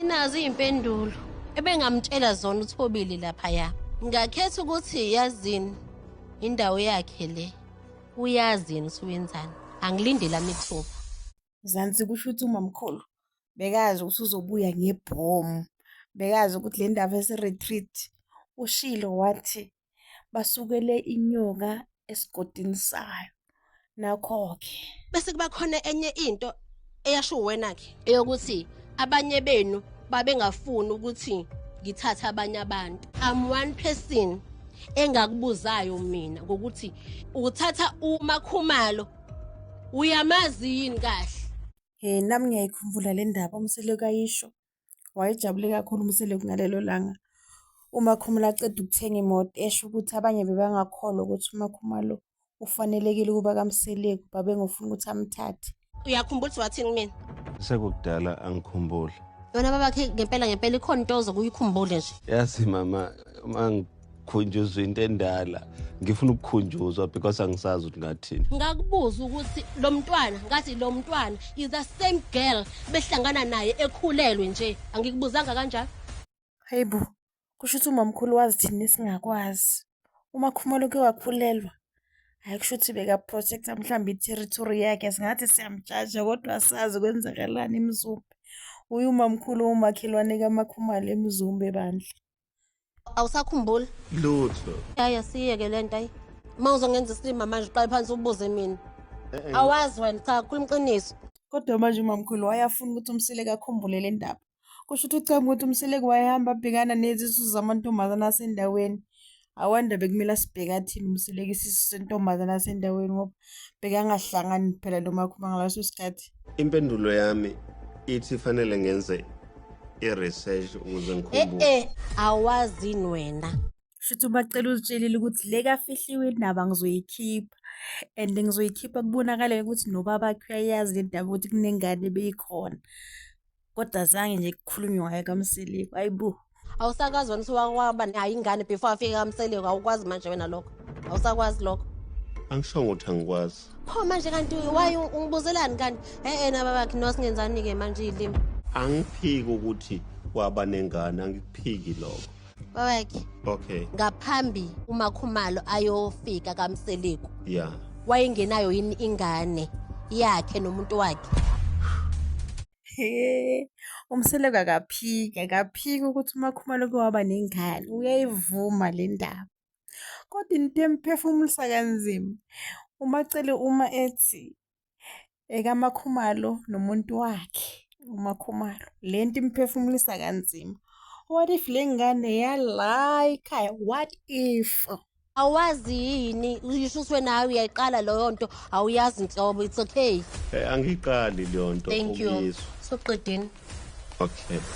Nazi impendulo ebengamtshela zona uthobile lapha ya. Ngakhetha ukuthi yazini indawo yakhe le. Uyazini usuwenzani? Angilindela mithuba. Zansi kusho ukuthi umamkhulu bekazi ukuthi uzobuya ngebhomu. Bekazi ukuthi le ndaba ese-retreat ushilo wathi basukele inyoka esigodini sayo nakho-ke bese kuba khona enye into eyasho wena-ke eyokuthi abanye benu babengafuni ukuthi ngithathe abanye abantu i'm one person engakubuzayo mina ngokuthi uthatha umakhumalo uyamazi yini kahle Eh nami ngiyayikhumbula le ndaba umseleko ayisho Wayejabule kakhulu uMseleku ngalelo langa uMakhumalo aqeda ukuthenga imoto esho ukuthi abanye bebangakholwa ukuthi uMakhumalo ufanelekile ukuba kaMseleku babengofuna ukuthi amthathe. Uyakhumbula ukuthi wathini kumina? Sekukudala angikhumbuli. Yona babakhe ngempela ngempela ikhona into ozokuyikhumbule nje. Yazi mama uma khunjuzwa into endala ngifuna ukukhunjuzwa because angisazi ukuthi ngathini ngakubuza ukuthi lo mntwana ngathi lo mntwana is the same girl behlangana naye ekhulelwe nje angikubuzanga kanjalo hayi bo kusho ukuthi umamkhulu wazi thina esingakwazi uma khumalo ke wakhulelwa hayi kusho ukuthi bekaprotecta mhlawumbe i-territory yakhe singathi siyamjaja kodwa sazi kwenzakalani emzumbe uye umamkhulu umakhelwane kamakhumalo emzumbe bandla awusakhumbuli lutho yaya siyeke le nto ayi uma uzongenza isilima manje uqale phansi ubuze mina eh, eh. awazi wena cha khuluma iqiniso kodwa manje umamkhulu wayafuna ukuthi umsileke akhumbule le ndaba kusho ukuthi ucanga ukuthi umsileke wayehamba abhekana nezisu zamantombazane asendaweni awanda bekumele asibheke athini umsileke isisu sentombazane asendaweni ngoba bekangahlangani phela lo makhuma ngaleso sikhathi impendulo yami ithi fanele ngenze i-research ukuze ngikhumbule eh, eh awazini wena shuthi ubacela uzitshelile ukuthi le kafihliwe indaba ngizoyikhipha and ngizoyikhipha kubonakale ukuthi nobaba khe uyayazi le ndaba ukuthi kunengane beyikhona kodwa zange nje kukhulunywe ngayo kamseliku ayibo awusakwazi wena usuwakwaba nayo ingane before afike kamseliku awukwazi manje wena lokho awusakwazi lokho angisho ukuthi angikwazi pho manje kanti waye ungibuzelani kanti e-e naba bakhe nosingenzani-ke manje iyilimi angiphiki ukuthi waba nengane angikuphiki lokho babakhe okay ngaphambi umakhumalo ayofika kamseliku yeah wayengenayo yini ingane yakhe nomuntu wakhe umseleku akaphiki akaphiki ukuthi umakhumalo ke waba nengane uyayivuma le ndaba kodwa into emphefumulisa kanzima umacele uma ethi ekaMakhumalo nomuntu wakhe uMakhumalo le nto imphefumulisa kanzima what if le ngane yala ikhaya what if awazi yini uyishuswe nawe uyayiqala leyo nto awuyazi nhlobo it's okay eh, angiyiqali leyo nto thank you soqedeni okay